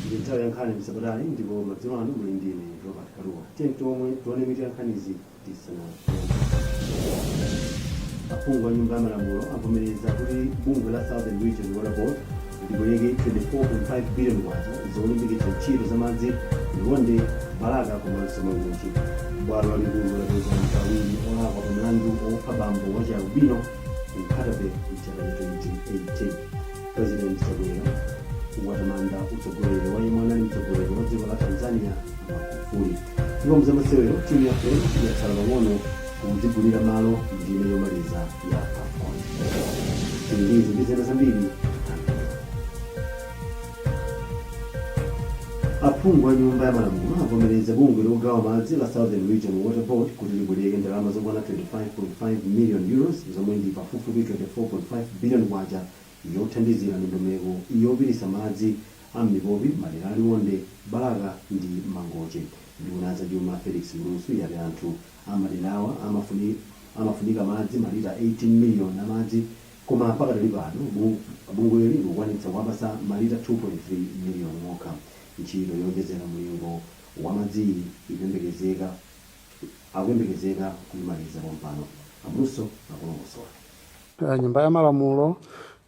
ndi nthawi ya nkhani mwapatali ndipo madzulo ano muli ndi ine robert kaluwa tione mitu ya nkhanizi tsono aphungu a nyumba ya malamulo avomereza kuti bungwe la southern region water board libwereke 24.5 billion kwacha zolimbikitsa ntchito za madzi liwonde balaka komanso mangochi bwalo lalikulu lapeza anthu awiri olakwa pa mlandu wopha bambo wachialubino ku nkhatabay mchaka cha 2018 President Chakwera watamanda utsogoleri wa yemwe anali mtsogoleri wa dziko la Tanzania Magufuli. Ndipo m'zamasewero timu ya Flames yatsala pang'ono kudzigulira malo ndime yomaliza ya AFCON. Izi ndi zina zambiri aphungu a nyumba ya malamulo avomereza bungwe logawa madzi la southern region water board kuti libwereke ndalama zokwana 25.5 million euros zomwe ndi pafupifupi 24.5 billion kwacha yothandizira ndondomeko yopititsa madzi a m'mipopi m'madera a Liwonde, Balaka ndi Mangochi. Nduna ya zachuma, Felix Mlusu, yati anthu a m'maderawa amafunika madzi malita 18 miliyoni a madzi koma pakadali pano bungweli likukwanitsa kuwapatsa malita 2.3 miliyoni okha. Ntchito yoonjezera mlingo wa madziyi akuyembekezeka kuimaliza pompano, a Mlusu akulongosola. Eh, nyumba ya malamulo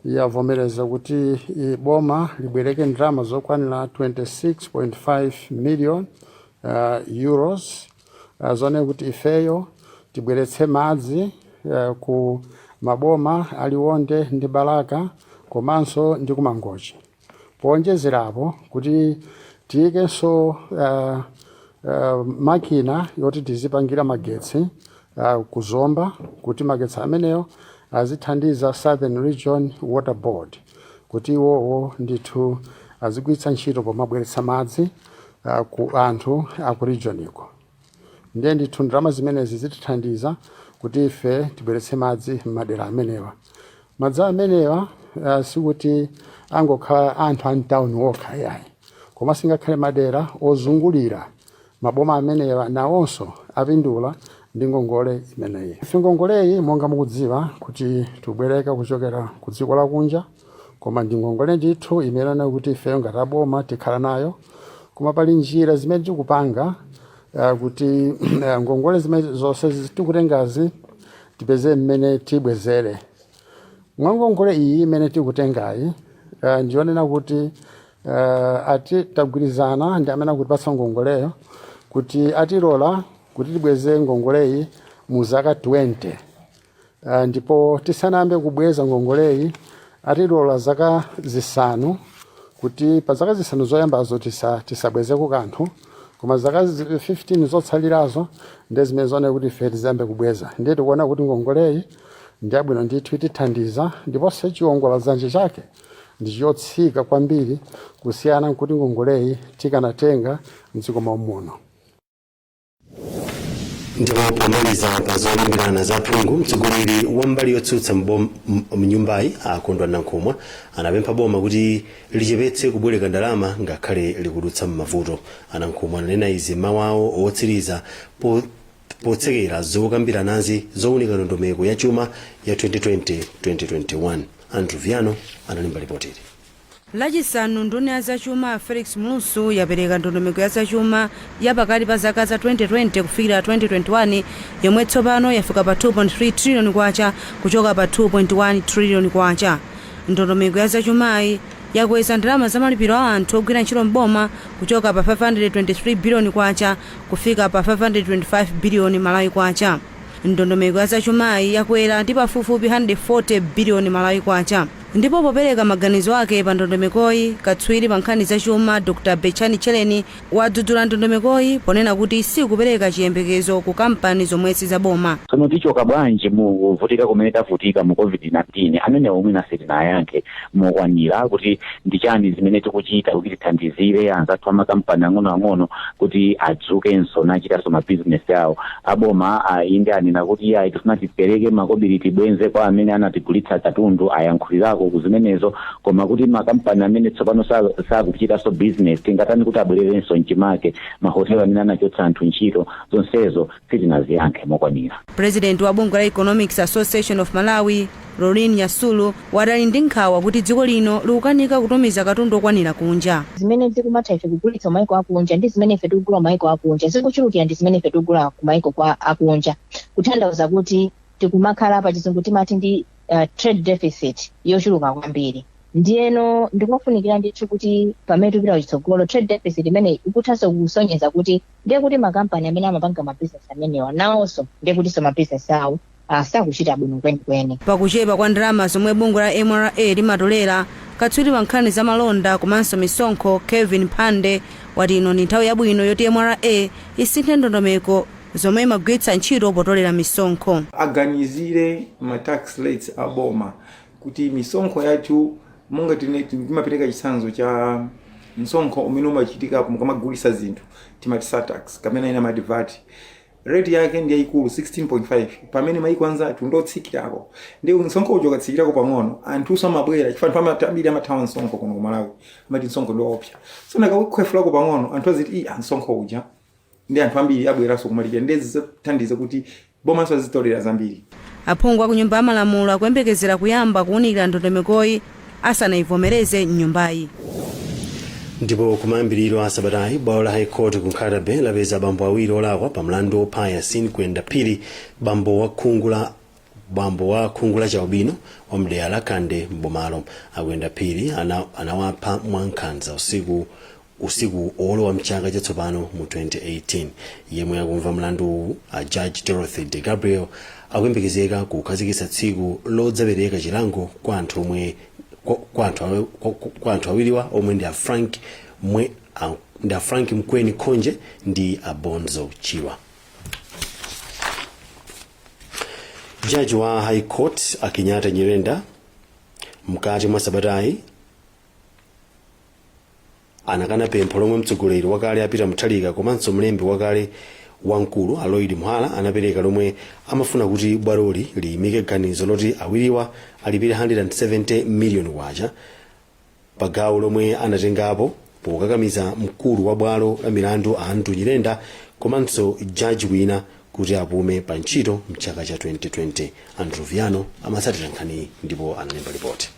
yavomereza kuti eh, boma libwereke ndalama zokwanira 26.5 million uh, euros uh, zoona kuti ifeyo tibweretse madzi uh, ku maboma a Liwonde ndi balaka komanso ndi kumangochi Powonjezerapo, kuti tiyikenso makina yoti tizipangira magetsi ku Zomba kuti magetsi amenewo azithandiza Southern Region Water Board kuti iwowo ndithu azigwiritsa ntchito pomabweretsa madzi ku anthu a ku regioniko. ndiye ndithu ndalama zimenezi zitithandiza kuti ife tibweretse madzi m'madera amenewa madzi amenewa uh, sikuti angokhala anthu a mtawuni okha yayi koma singakhale madera ozungulira maboma amenewa nawonso apindula ndi ngongole imeneyi ife ngongoleyi monga mukudziwa kuti tibwereka kuchokera ku dziko lakunja koma ndi ngongole ndithu imene kuti ifeyo ngati aboma tikhala nayo koma pali njira zimene tikupanga ah, kuti ah, ngongole zimene zonse zi- tikutengazi tipeze mmene tibwezere mwa ngongole iyi imene tikutengayi ah, ndiyonena kuti ah, ati tagwirizana ndi amene akutipatsa ngongoleyo kuti atilola kuti tibweze ngongoleyi mu zaka 20 Uh, ndipo tisanayambe kubweza ngongoleyi atilola zaka zisanu kuti pa zaka zisanu zoyambazo tisa, tisabwezeko kanthu koma zaka 15 zotsalirazo ndi zimene zooneka kuti ife tiziyambe kubweza ndiye tikuona kuti ngongoleyi ndi yabwino ndithu itithandiza ndiponso chiwongola dzanja chake ndi chotsika kwambiri kusiyana nkuti ngongoleyi tikanatenga mdziko mom'muno ndipo pomaliza pa zolimbirana za phungu mtsogoleri wa mbali yotsutsa mnyumbayi a kondwa nankhumwa anapempha boma kuti lichepetse kubwereka ndalama ngakhale likudutsa m'mavuto a nankhumwa ananena izi m'mawu awo otsiriza potsekera zokambiranazi zowunika ndondomeko ya chuma ya 2020-2021 andrew viano analemba lipotili Lachisanu, nduna ya zachuma a Felix Mlusu yapereka ndondomeko ya zachuma ya pakati pa zaka za 2020 kufikira 2021 yomwe tsopano yafika pa K2.3 trillion kuchoka pa K2.1 trillion. Ndondomeko ya zachumayi yakweza ndalama za malipiro a anthu ogwira ntchito m'boma kuchoka pa K523 billion kufika pa K525 billion Malawi Kwacha. Ndondomeko ya zachumayi yakwera ndi pafupifupi K140 billion Malawi Kwacha. Ndipo popereka maganizo ake pa ndondomekoyi, katswiri pa nkhani za chuma Dr. Betchani Tchereni wadzudzula ndondomekoyi ponena kuti sikupereka chiyembekezo ku kampani zomwe si za boma. Tsono tichoka bwanji mu kuvutika kumene tavutika mu Covid-19? Amenewo mwina sitinayankhe mokwanira kuti ndi chani zimene tikuchita kuti tithandizire anzathu a makampani ang'onoang'ono kuti adzukenso nachitanso mabizinesi awo. a boma inde anena kuti iyayi tifuna tipereke makobiri tibwenze kwa amene anatigulitsa katundu ayankhulirako ku zimenezo koma kuti makampani amene tsopano sa- sakuchitanso business tingatani kuti abwererenso mchimake mahotelo amene anachotsa anthu ntchito zonsezo sitinaziyankhe mokwanira president wa bungwe la economics association of malawi Lauryn Nyasulu, wati ali ndi nkhawa kuti dziko lino likukanika kutumiza katundu okwanira kunja. Zimene tikumatha ife kugulitsa kumaiko akunja ndi zimene ife tikugula kumaiko akunja zikuchulukira ndi zimene ife tikugula kumaiko kwa akunja kuthandauza kuti tikumakhala pachizungu timati ndi trade deficit yochuluka kwambiri ndiyeno ndikofunikira ndithu kuti pamene tikupita kuchitsogolo trade deficit imeneyi ikuthanso kusonyeza kuti ndiye kuti makampani amene amapanga mabizinesi amenewa nawonso ndiye kutinso mabizinesi awo sakuchita bwino kwenikweni. Pa kuchepa kwa ndalama zomwe bungwe la mra limatolera, katswiri pa nkhani za malonda komanso misonkho Kevin Phande wati ino ndi nthawi yabwino yoti mra isinthe ndondomeko zomwe imagwiritsa ntchito potolera misonkho. Aganizire ma tax rates a boma kuti misonkho yathu monga timapereka chitsanzo cha msonkho umene umachitika mukamagulitsa zinthu timati surtax kapena ena amati vat rate yake ndi yayikulu 16.5 pamene mayiko anzathu ndi otsikirako nde msonkho uja ukatsikirako pang'ono anthuso amabwera chifukwa anthu amati ambiri amathawa msonkho kuno ku malawi amati msonkho ndi waopsa so akakhwefulako pang'ono anthu aziti i msonkho uja nde anthu ambiri abweranso kumalipira nde zithandiza kuti bomanso lizitolera zambiri Aphungu a ku Nyumba ya Malamulo akuyembekezera kuyamba kuunikira ndondomekoyi asanaivomereze m'nyumbayi. Ndipo kumayambiriro a sabatayi bwalo la High Court ku Nkhata-Bay lapeza abambo awiri olakwa pa mlandu wopha Yasin Kwenda Phiri, bambo wa khungu la chialubino wa mdera la Kande m'bomalo. A Kwenda Phiri anawapha mwankhanza usiku usiku olowa mchaka chatsopano mu 2018 yemwe akumva mlanduwu a judge dorothy de gabriel akuyembekezeka kukhazikitsa tsiku lodzapereka chilango kwa anthu awiriwa omwe ndi a frank mkweni khonje ndi a bonzo chirwa jaji wa high court a kenyatta nyirenda mkati mwa sabatayi anakana pempho lomwe mtsogoleri wakale a peter mutharika komanso mlembi wakale wamkulu a lloyd muhara anapereka lomwe amafuna kuti bwaloli liyimike ganizo loti awiriwa alipire 170 miliyoni kwacha pa gawo lomwe anatengapo pokakamiza mkulu wa bwalo la milandu a andrew nyirenda komanso jaji wina kuti apume pa ntchito mchaka cha 2020 andrew viano amatsatira nkhaniyi ndipo analemba lipoti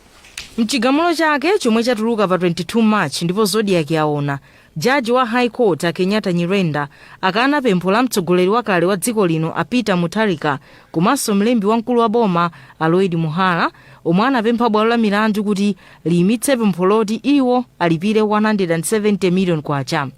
M'chigamulo chake chomwe chatuluka pa 22 March ndipo Zodiak yaona, jaji wa High Court a Kenyatta Nyirenda akana pempho la mtsogoleri wakale wa dziko lino a Peter Mutharika komanso mlembi wamkulu wa boma a Lloyd Muhara omwe anapempha bwalo la milandu kuti liyimitse pempho loti iwo alipire K170 million.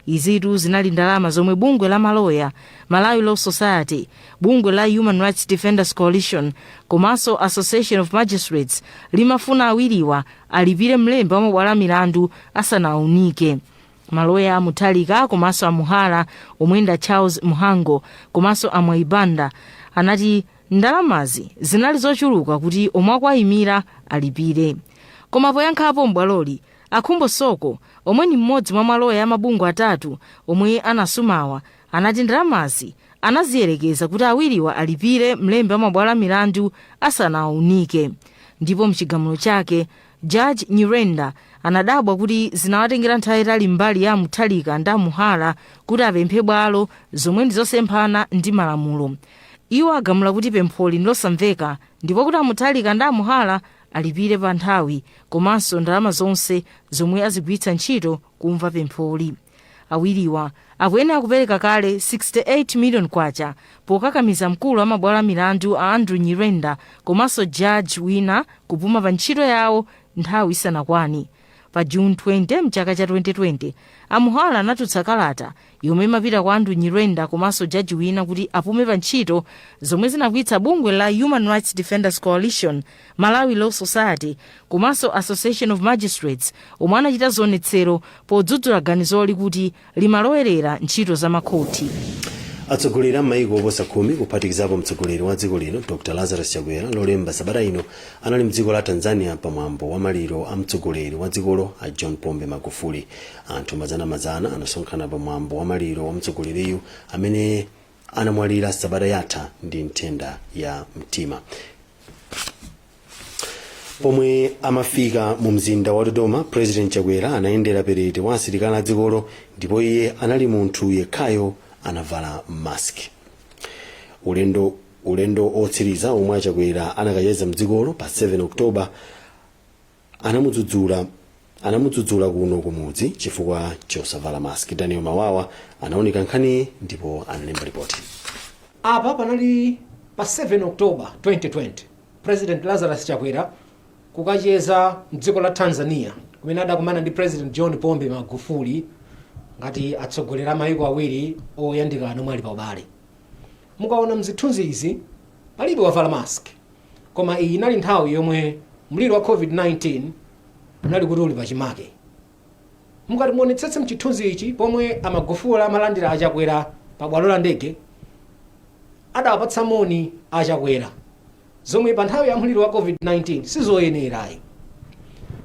Izitu zinali ndalama zomwe bungwe la maloya, Malawi Law Society, Bungwe la Human Rights Defenders Coalition komanso Association of Magistrates limafuna awiriwa alipire mlembi wa mabwalo a milandu asanaunike. Maloya a Mutharika komanso a Muhara omwe nda Charles Mhango komanso a Mwai Banda anati ndalamazi zinali zochuluka kuti omwe akuwaimira alipire. Koma poyankhapo m'bwaloli, a Khumbo Soko omwe ni mmodzi mwa maloya a mabungwe atatu omwe anasumawa anati ndalamazi anaziyerekeza kuti awiriwa alipire mlembi wa mabwalo a milandu asanawaunike ndipo mchigamulo chake jaji nyirenda anadabwa kuti zinawatengera nthawi yayitali mbali ya amutharika ndi amuhara kuti apemphe bwalo zomwe ndi zosemphana ndi malamulo iwo agamula kuti pempholi ndilosamveka ndipo kuti amutharika ndi amuhara alipire pa nthawi komanso ndalama zonse zomwe azigwiritsa ntchito kumva pempholi Awiriwa akuyenera kupereka kale K68 million pokakamiza mkulu wa mabwalo a milandu a Andrew Nyirenda komanso jaji wina kupuma pa ntchito yawo nthawi isanakwane. Pa June 20 mchaka cha 2020, a Muhara anatulutsa kalata yomwe imapita kwa Andrew Nyirenda komanso jaji wina kuti apume pa ntchito zomwe zinakwiyitsa bungwe la Human Rights Defenders Coalition Malawi Law Society komanso Association of Magistrates omwe anachita zionetsero podzudzula ganizoli kuti limalowerera ntchito za makhoti. Atsogoleri a maiko oposa khumi kuphatikizapo mtsogoleri wa dziko lino Dr Lazarus Chakwera lolemba sabata ino anali mdziko la Tanzania pa mwambo wa maliro a mtsogoleri wa dzikolo a John Pombe Magufuli. Anthu mazanamazana anasonkhana pa mwambo wa maliro wa mtsogoleriyu amene anamwalira sabata yatha ndi nthenda ya mtima pomwe amafika mu mzinda wa dodoma president chakwera anayendera perete wa asilikali a dzikolo ndipo iye anali munthu yekhayo anavala mask ulendo otsiriza omwe achakwera anakacheza mdzikolo pa 7 oktoba anamudzudzula kuno kumudzi chifukwa chosavala mask daniel mawawa anaunika nkhaniyi ndipo analemba ripoti apa panali pa 7 october 2020 president lazarus chakwera kukacheza mdziko la tanzania kumene adakumana ndi president john pombe magufuli ngati atsogoleri a mayiko awiri oyandikana omwe ali pa ubale mukaona mzithunzi izi palibe wavala mask Koma iyi inali nthawi yomwe mliri wa COVID-19 unali kuti uli pachimake. Mukati muonetsetse mchithunzi ichi pomwe a Magufuli amalandira a Chakwera pa bwalo la ndege, adawapatsa moni a Chakwera zomwe pa nthawi ya mliri wa COVID-19 sizoyenera ayi.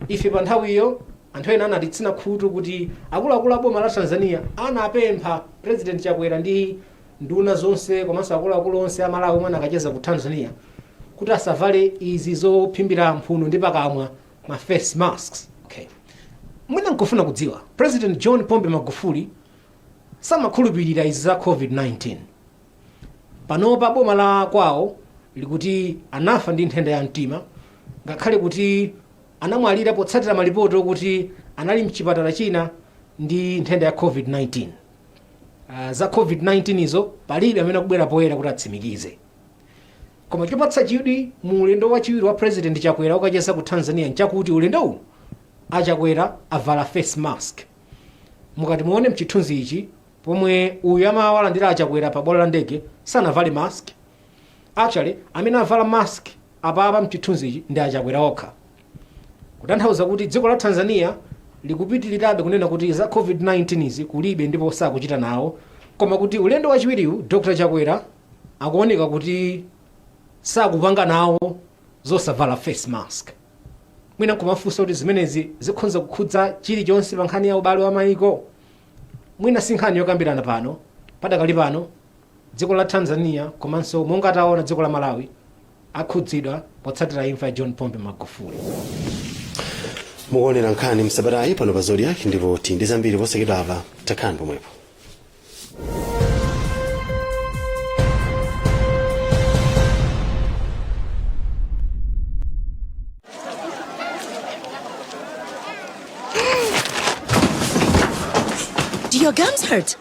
Ife pa nthawiyo anthu ena anatitsina khutu kuti akuluakulu a boma la Tanzania anapempha President Chakwera ndi nduna zonse komanso akuluakulu onse a Malawi omwe anakacheza ku Tanzania kuti asavale izi zophimbira mphuno ndi pakamwa ma face masks okay. mwina nkufuna kudziwa president john pombe magufuli samakhulupirira izi za covid-19 panopa boma la kwawo likuti anafa ndi nthenda ya mtima ngakhale kuti anamwalira potsatira malipoti okuti anali mchipatala china ndi nthenda ya covid-19 uh, za covid-19 izo palibe amene akubwera poyera kuti atsimikize koma chopatsa chidwi mu ulendo wachiwiri wa president chakwera okacheza ku tanzania nchakuti ulendo uwu achakwera avala face mask mukati muone mchithunzi ichi pomwe uyu amawalandira achakwera pa bwalo la ndege sanavale mask actually amene avala mask apapa mchithunzi ichi ndi achakwera okha Kutanthauza kuti dziko la Tanzania likupitilirabe kunena kuti za Covid-19 izi kulibe ndipo sakuchita nawo koma kuti ulendo wachiwiriwu Dr. Chakwera akuoneka kuti sakupanga nawo zosavala face mask. Mwina nkumafunsa kuti zimenezi zikhonza kukhudza chilichonse pa nkhani ya ubale wa maiko. Mwina si nkhani yokambirana pano, padakali pano dziko la Tanzania komanso monga taona dziko la Malawi akhudzidwa potsatira imfa ya John Pombe Magufuli. mukuonera nkhani msabatayi pano pa Zodiak ndipo tili ndi zambiri posachedwapa takhani pomwepo Do your gums hurt?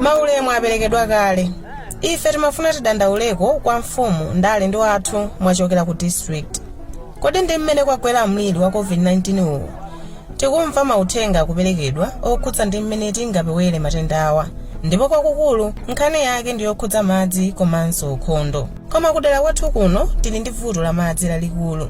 maulemu aperekedwa kale ife timafuna tidandauleko kwa mfumu ndale ndi wathu mwachokera ku district kodi ndi mmene kwagwera mliri wa covid-19 uwu tikumva mauthenga akuperekedwa okhudza ndi mmene tingapewere matendawa ndipo kwakukulu nkhani yake ndi yokhudza madzi komanso ukhondo Koma kudera kwathu kuno tili ndi vuto la madzi lalikulu.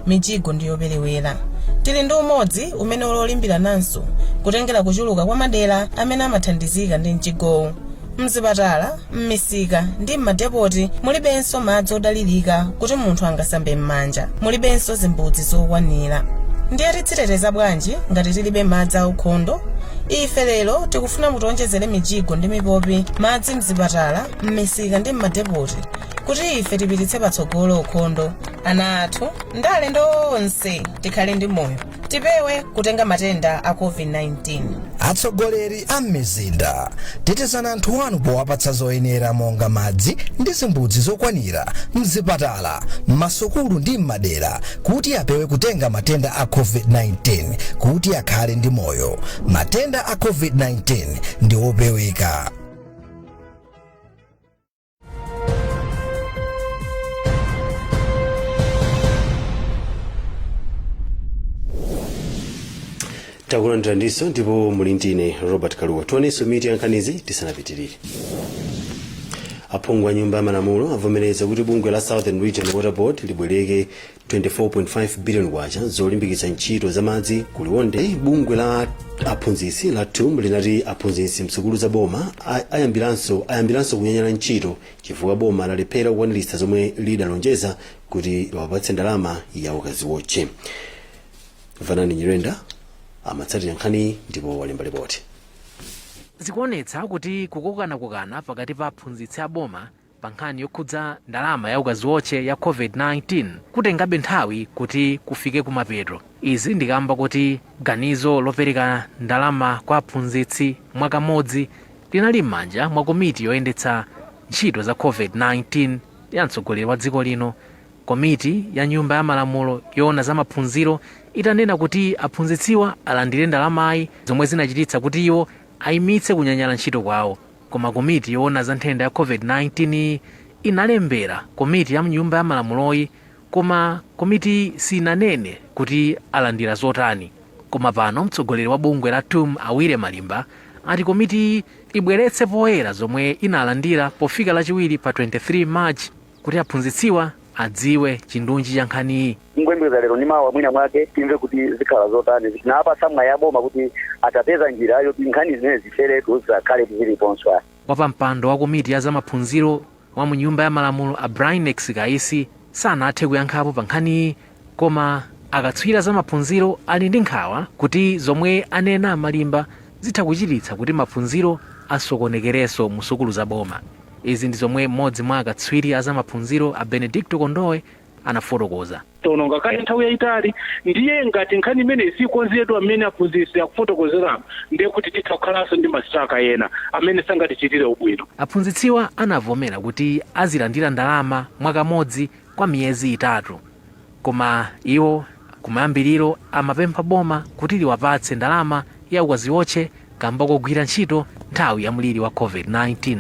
Mijigo ndi yoperewera. Tili ndi umodzi umene uli wolimbirananso kutengera kuchuluka kwa madera amene amathandizika ndi mjigowu. M'zipatala, m'misika ndi m'madepoti mulibenso madzi odalirika kuti munthu angasambe m'manja. Mulibenso zimbudzi zokwanira. Ndiye tidziteteza bwanji ngati tilibe madzi aukhondo? Ife lero tikufuna mutionjezere mijigo ndi mipopi, madzi m'zipatala, m'misika ndi m'madepoti kuti ife tipititse patsogolo ukhondo ana athu ndi alendo tonse tikhale ndi moyo tipewe kutenga matenda a covid-19 atsogoleri a m'mizinda tetezani anthu anu powapatsa zoyenera monga madzi ndi zimbudzi zokwanira mzipatala m'masukulu ndi m'madera kuti apewe kutenga matenda a covid-19 kuti akhale ndi moyo matenda a covid-19 ndi opeweka takulandiraninso ndipo muli ndine robert kaluwa tionenso mitu ya nkhanizi tisanapitirire aphungu a nyumba ya malamulo avomereza kuti bungwe la southern region water board libwereke 24.5 billion kwacha zolimbikitsa ntchito za madzi ku liwonde bungwe la aphunzitsi la tum linati aphunzitsi msukulu za boma ayambiranso kunyanyala ntchito chifukwa boma lalephera kukwaniritsa zomwe lidalonjeza kuti liwapatse ndalama ya ukaziwotche vanani nyirenda amatsatira nkhaniyi ndipo walemba lipoti zikuonetsa kuti kukokanakokana pakati pa aphunzitsi aboma pa nkhani yokhudza ndalama ya ukaziotche ya COVID-19 kutengabe nthawi kuti kufike kumapeto. Izi ndi kamba kakuti ganizo lopereka ndalama kwa aphunzitsi mwakamodzi linali m'manja mwa komiti yoyendetsa ntchito za COVID-19 ya mtsogoleri wa dziko lino. Komiti ya nyumba ya malamulo yoona za maphunziro itanena kuti aphunzitsiwa alandire ndalamayi zomwe zinachititsa kuti iwo ayimitse kunyanyala ntchito kwawo. Koma komiti yoona za nthenda ya COVID-19 inalembera komiti ya m'Nyumba ya Malamuloyi koma komitiyi sinanene kuti alandira zotani. Koma pano mtsogoleri wa bungwe la TUM a Willy Malimba ati komitiyi ibweretse poyera zomwe inalandira pofika Lachiwiri pa 23 March. kuti aphunzitsiwa adziwe chindunji cha nkhaniyi. Tingoyembekeza lero ndi mawa mwina mwake timve kuti zikhala zotani. Tinawapatsa mwayi a boma kuti atapeza njira yoti nkhani zimenezi zitheretu zisakhaletu ziliponso ayi. Wapampando wa komiti ya zamaphunziro wa mu Nyumba ya Malamulo a Brainex Kaisi sanathe kuyankhapo pa nkhaniyi Koma akatswiri a zamaphunziro ali ndi nkhawa kuti zomwe anena a Malimba zitha kuchititsa kuti maphunziro asokonekerenso mu sukulu za boma. Izi ndi zomwe m'modzi mwa akatswiri a zamaphunziro a Benedicto Kondowe anafotokoza. Taononga kale nthawi yayitali ndiye ngati nkhani imeneyi sikonzedwa m'mene aphunzitsi akufotokozeramu ndiye kuti titha kukhalanso ndi masitiraka ena amene sangatichitire ubwino. Aphunzitsiwa anavomera kuti azilandira ndalama mwakamodzi kwa miyezi itatu koma iwo kumayambiriro amapempha boma kuti liwapatse ndalama ya ukaziotche kamba kogwira ntchito nthawi ya mliri wa covid-19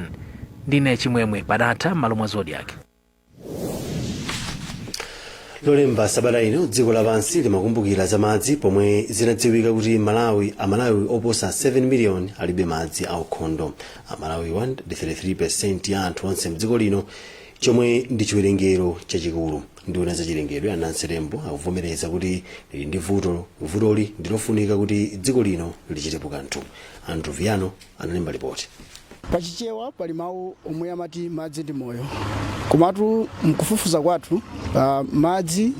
ndine chimwemwe Padatha m'malo mwa Zodiak lolemba sabata ino dziko lapansi limakumbukira za madzi pomwe zinadziwika kuti malawi amalawi oposa 7 miliyoni alibe madzi aukhondo amalawi 33% ya anthu onse mdziko lino chomwe ndi chiwerengero chachikulu nduna ya za chilengedwe a Nancy Tembo akuvomereza kuti ili ndi vuto vutoli ndilofunika kuti dziko lino lichitepo kanthu Andrew Viano analemba lipoti pachichewa pali mawu omwe amati madzi ndi moyo komatu mkufufuza kwathu uh, madzi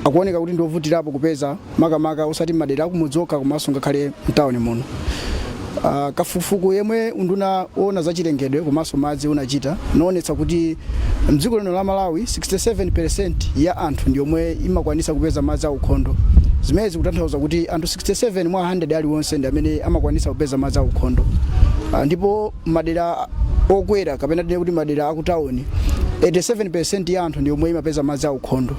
akuoneka kuti ndiovutirapo kupeza makamaka osati madera akumudzi okha komanso ngakhale m'tawuni muno. Ah, Kafukufuku yemwe unduna woona za chilengedwe komanso madzi unachita unaonetsa kuti mdziko lino la Malawi 67% ya anthu ndi yomwe imakwanitsa kupeza madzi aukhondo. Zimenezi zikutanthauza kuti anthu 67 mwa 100 aliwonse ndi amene amakwanitsa kupeza madzi aukhondo. Ah, Ndipo madera okwera kapena tinene kuti madera akutawuni 87% ya anthu ndi yomwe imapeza madzi aukhondo.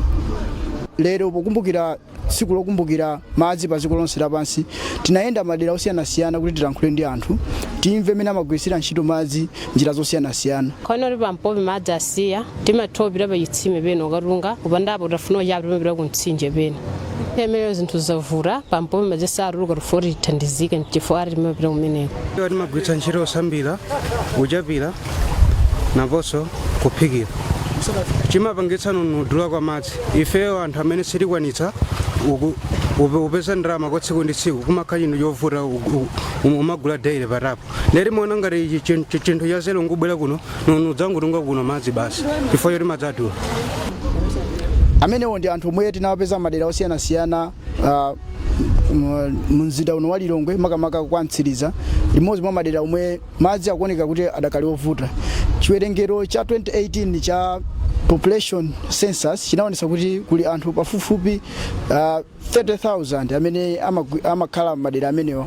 lero pokumbukira tsiku lokumbukira madzi pa dziko lonse lapansi tinayenda madera osiyanasiyana kuti tilankhule ndi anthu timve mmene amagwiritsira ntchito madzi njira zosiyanasiyana kuno kuti pampopi madzi asiya timathopitira pa chitsime pena kukatunga kupandapo tikafuna kuchapa timapita ku mtsinje pena ndiye zinthu zavuta pampopi madzi satuluka tikufuna kuti tithandizike nchifukwa chake timapita kumeneko timagwiritsa ntchito osambira kuchapira naponso kuphikira chimapangitsa ndi kudula kwa madzi ifeyo anthu amene sitikwanitsa uku- upe- upeza ndalama kwa tsiku ndi tsiku kumakhala chinthu chovuta u- u- um- umagula daily pa tap nde timaona ngati ichi chin- chi- chinthu cha zero nkubwera kuno nkudzangotunga kuno madzi basi chifukwa choti madzi adula amenewo ndi anthu omwe tinawapeza madera osiyanasiyana ah, mu- mu mzinda uno wa lilongwe makamaka kwa mtsiriza limodzi mwa madera omwe Madzi akuoneka kuti adakali ovuta. Chiwerengero cha 2018 cha population census chinaonetsa kuti kuli anthu pafupifupi uh, 30,000 amene amagwi- amakhala m'madera amenewa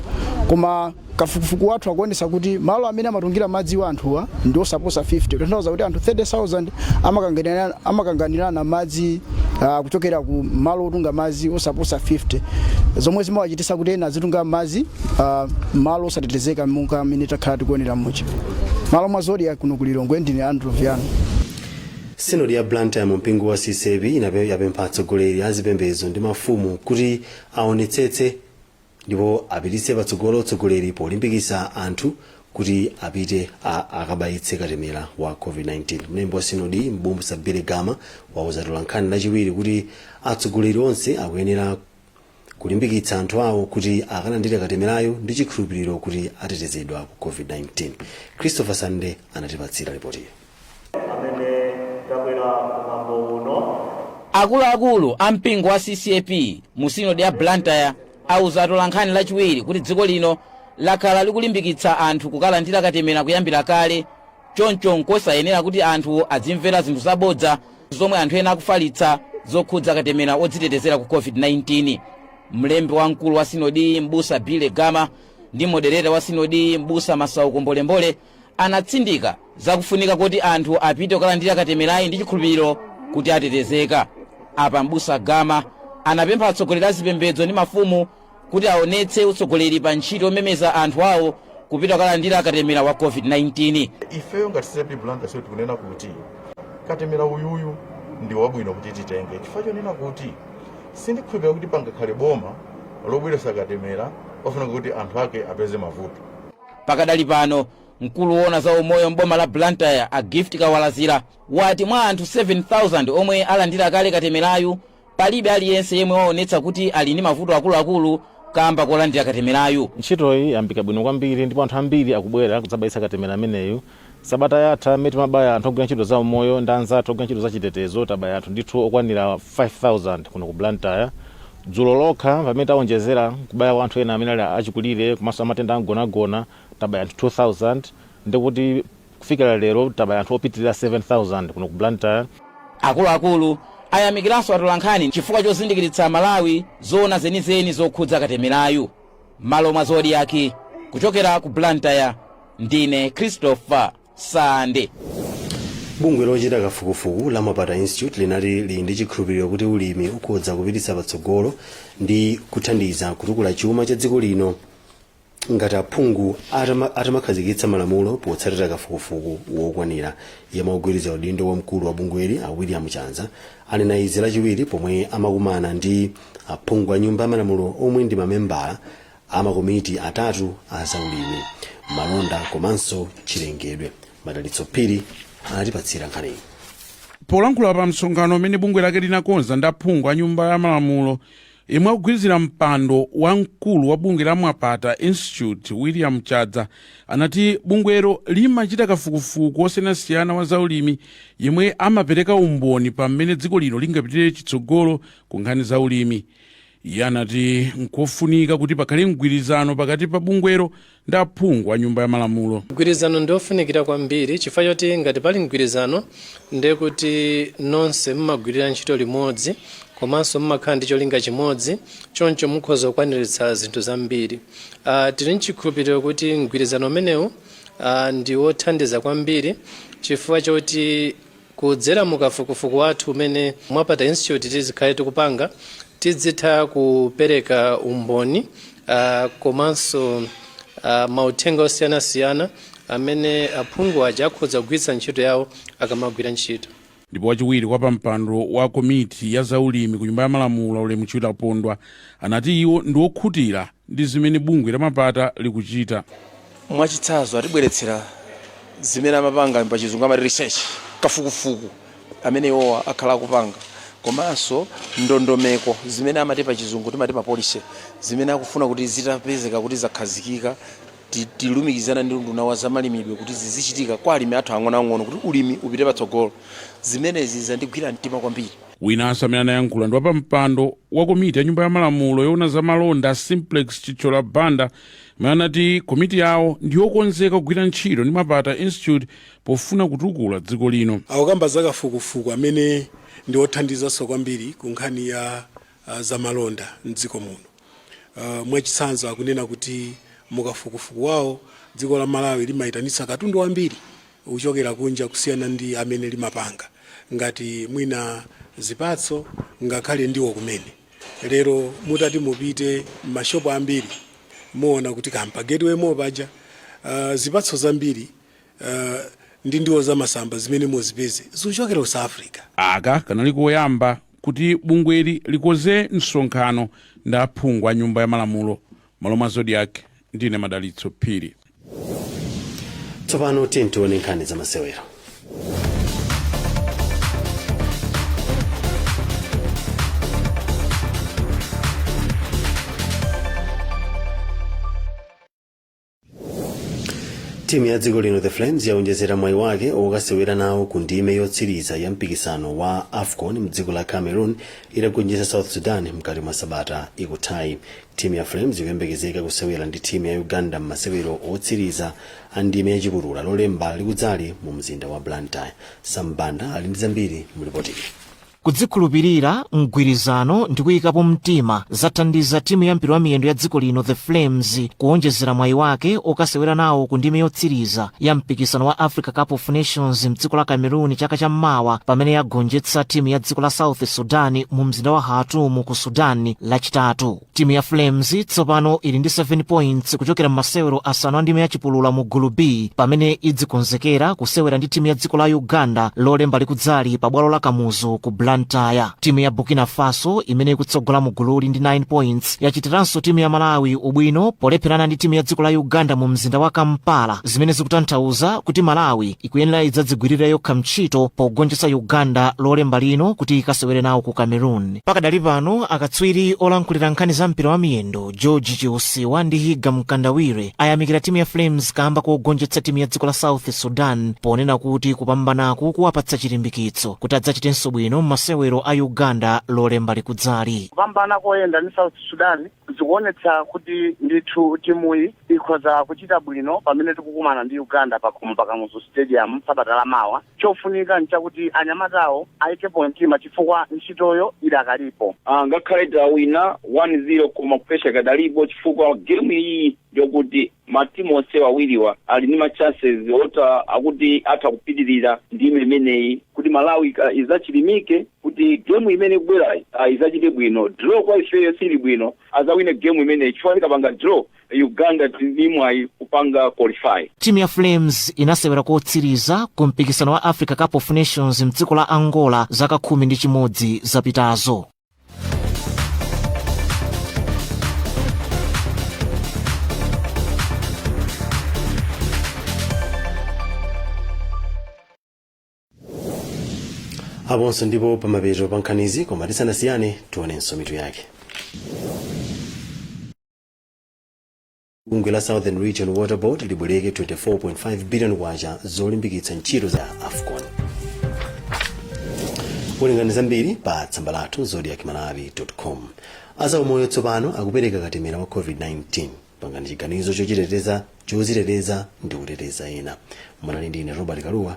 koma kafukufuku wathu akuonetsa kuti malo amene amatungira madzi anthuwa ndi osaposa 50 kutanthauza kuti anthu 30,000 amakanganirana- amakanganirana madzi uh, kuchokera ku malo otunga madzi osaposa 50 zomwe zimawachititsa kuti ena azitunga madzi uh, malo osatetezeka monga mmene takhala tikuonera muja mmalo mwa zodiak kuno ku lilongwe ndine andrew viano sinodi ya blantyre mu mpingo wa ccap inape- yapempha atsogoleri a zipembedzo ndi mafumu kuti aonetsetse ndipo apititse patsogolo utsogoleri polimbikitsa anthu kuti apite a- akabayitse katemera wa covid-19 mlembi wa sinodi mbu- m'busa billy gama wauza atolankhani lachiwiri kuti atsogoleri onse akuyenera kulimbikitsa anthu awo kuti akalandire katemerayo ndi chikhulupiriro kuti atetezedwa ku covid-19 christopher sande anatipatsira ripotiyo akuluakulu a mpingo wa ccap mu sinodi ya blantyre auza atolankhani lachiwiri kuti dziko lino lakhala likulimbikitsa anthu kukalandira katemera kuyambira kale Choncho n'kosayenera kuti anthu azimvera zinthu zabodza zomwe anthu ena akufalitsa zokhudza katemera wodzitetezera ku COVID-19. Mlembi wamkulu wa sinodiyi m'busa Billy Gama ndi modereta wa sinodiyi m'busa Masauko Mbolembole anatsindika zakufunika koti anthu apite kukalandira katemerayu ndi chikhulupiriro kuti atetezeka. Apa m'busa Gama anapempha atsogoleri a zipembedzo ndi mafumu kuti aonetse utsogoleri pa ntchito yomemeza anthu awo kupita kukalandira katemera wa covid-19 ifeyo ngati ccap blantyre sinodi tikunena kuti katemera uyuyu ndi wabwino kuti titenge chifukwa chonena kuti sindikhulupirira kuti pangakhale boma lobweretsa katemera ofuna kuti anthu ake apeze mavuto pakadali pano mkulu woona za umoyo m'boma la blantyre a gift kawalazira wati mwa anthu 7000 omwe alandira kale katemerayu palibe aliyense yemwe waonetsa kuti ali ndi mavuto akuluakulu kamba kolandira katemerayu ntchitoyi yayamba bwino kwambiri ndipo anthu ambiri akubwera kudzabayitsa katemera ameneyu sabata yatha mmene timabaya anthu ogwira ntchito za umoyo ndi anzathu ogwira ntchito za chitetezo tabaya anthu ndithu okwanira 5000 kuno ku blantyre dzulo lokha pamene tawonjezera kubaya kwa anthu ena amene ali achikulire komanso amatenda amgonagona tabaya anthu 2000 ndikuti Kufikira lero tabaya anthu opitilira 7000 kuno ku Blantyre. Akuluakulu ayamikiranso atolankhani chifukwa chozindikiritsa Amalawi zoona zenizeni zokhudza katemerayu. M'malo mwa Zodiak, kuchokera ku Blantyre, ndine Christopher Sande. Bungwe lochita kafukufuku la Mwapata Institute linati lili ndi chikhulupiriro kuti ulimi ukhoza kupititsa patsogolo ndi kuthandiza kutukula chuma cha dziko lino. ngati aphungu atamakhazikitsa malamulo potsatira kafukufuku wokwanira yemwe akugwirizira udindo wa mkulu wa bungweli a william chadza anena izi lachiwiri pomwe amakumana ndi aphungu a nyumba ya malamulo omwe ndi mamembala a makomiti atatu a zaulimi malonda komanso chilengedwe madalitso phiri anatipatsira nkhaniyi polankhula pa msonkhano umene bungwe lake linakonza ndi aphungu a nyumba ya malamulo Yemwe akugwirizira mpando wa mkulu wa bungwe la Mwapata Institute William Chadza anati bungwelo limachita kafukufuku wosiyanasiyana wa zaulimi yemwe amapereka umboni pa mmene dziko lino lingapitire chitsogolo ku nkhani za ulimi. Iye anati nkofunika kuti pakhale mgwirizano pakati pa bungwelo ndi aphungu a Nyumba ya Malamulo. Mgwirizano ndi wofunikira kwambiri chifukwa choti ngati pali mgwirizano ndiye kuti nonse mumagwirira ntchito limodzi komanso mumakhala ndi cholinga chimodzi choncho mukhoza kukwaniritsa zinthu zambiri. Uh, tili nchikhulupiriro kuti mgwirizano umenewu uh, ndi wothandiza kwambiri chifukwa choti Kudzera mu kafukufuku wathu umene Mwapata Institute tizikhale tikupanga, tidzitha kupereka umboni uh, komanso uh, mauthenga osiyanasiyana amene aphungu aja akhoza kugwiritsa ntchito yawo akamagwira ntchito. Ndipo wachiwiri kwa pampando wa komiti ya zaulimi ku nyumba ya malamulo Ulemu Chilapondwa anati iwo ndi okhutira ndi zimene bungwe la Mwapata likuchita. Mwachitsanzo atibweretsera zimene amapanga pa chizungu amati research, kafukufuku amene iwowa akhala akupanga komanso ndondomeko zimene amati pa chizungu timati ma policy zimene akufuna kuti zitapezeka kuti zakhazikika tilumikizana ndi unduna wa zamalimidwe kuti zizichitika kwa alimi athu ang'onoang'ono kuti ulimi upite patsogolo. Zimenezi zandigwira mtima kwambiri. Winanso amene anayankhula ndi wapampando wa komiti ya Nyumba ya Malamulo yoona za malonda Simplex Chithyola Banda Iwo anati komiti yawo ndiyokonzeka kugwira ntchito ndi MwAPATA Institute pofuna kutukula dziko lino. Akukamba za kafukufuku amene ndi othandizanso kwambiri ku nkhani ya zamalonda m'dziko muno. Mwachitsanzo akunena kuti mu kafukufuku wawo dziko la Malawi limaitanitsa katundu wambiri kuchokera kunja kusiyana ndi amene limapanga ngati mwina zipatso ngakhale ndiwo kumene. Lero mutati mupite mma shop ambiri muona kuti kaya mpa gateway mall paja zipatso zambiri ndi ndiwo za masamba zimene muzipeze zikuchokera ku South Africa. Aka kanali koyamba kuti bungweli likonze msonkhano ndi aphungu a nyumba ya malamulo M'malo mwa Zodiak, ndine Madalitso Phiri. tsopano tiyeni tione nkhani za masewero timu ya dziko lino the flames yaonjezera mwayi wake okasewera nawo ku ndime yotsiriza ya mpikisano wa afcon mdziko la cameroon itagonjetsa south sudan mkati mwa sabata ikuthayi timu ya flames ikuyembekezeka kusewera ndi timu ya uganda m'masewero otsiriza a ndime yachipulula lolemba likudzali mu mzinda wa blantyre Sam Banda ali ndi zambiri mulipotili kudzikhulupirira mgwirizano ndi kuyikapo mtima zathandiza timu ya mpira wa miyendo ya dziko lino the flames kuwonjezera mwayi wake okasewera nawo ku ndime yotsiriza ya mpikisano wa africa cup of nations mdziko la cameroon chaka cha mmawa pamene yagonjetsa timu ya dziko la south sudan mu mzinda wa khartoum ku sudan lachitatu timu ya flames tsopano ili ndi 7 points kuchokera m'masewero asanu a ndime ya chipulula mu gulu b pamene idzikonzekera kusewera ndi timu ya dziko la uganda lolemba likudzali pa bwalo la kamuzu ku blantyre timu ya burkina faso imene ikutsogola mu gululi ndi 9 points yachitiranso timu ya malawi ubwino polepherana ndi timu ya dziko la uganda mu mzinda wa kampala zimene zikutanthauza kuti malawi ikuyenera idzadzigwirira yokha ntchito pogonjetsa uganda lolemba lino kuti ikasewere nawo ku cameroon pakadali pano akatswiri olankhulira nkhani za mpira wa miyendo george chiusiwa ndi higa mkandawire ayamikira timu ya flames kamba kogonjetsa timu ya dziko la south sudan ponena kuti kupambanaku kuwapatsa chilimbikitso kuti adzachitenso bwino m'masewero a uganda lolemba likudzali kupambana koyenda ndi south sudan zikuonetsa kuti ndithu timuyi ikhoza kuchita bwino pamene tikukumana ndi uganda pakhomo pakamuzu stadium sabata lamawa Chofunika n'chakuti anyamatawo aikepo mtima chifukwa ntchitoyo idakalipo. Ngakhale tawina 1, 0 koma pressure ikadalipo chifukwa game iyi ndiyokuti ma team onsewa awiriwa ali ndi ma chances oti a kuti atha kupitirira ndime imeneyi kuti Malawi idzachilimike kuti game imene ikubwerayi idzachite bwino. Draw kwa ifeyo siili bwino, adzawine game imeneyi chifukwa tikapanga draw uganda tili ndi mwayi kupanga qualify timu ya flames inasewera kotsiriza ku mpikisano wa africa cup of nations mdziko la angola zaka khumi ndi chimodzi zapitazo aponso ndi po pamapeto pa nkhanizi koma tisanasiyane tionenso mitu yake bungwe la southern region water board libwereka 24.5 billion kwacha zolimbikitsa ntchito za afcon werengani zambiri pa tsamba lathu zodiak malawi com azaumoyo tsopano akupereka katemera wa covid-19 pangani chiganizo chochiteteza choziteteza ndi kuteteza ena munali ndi ine robert kalua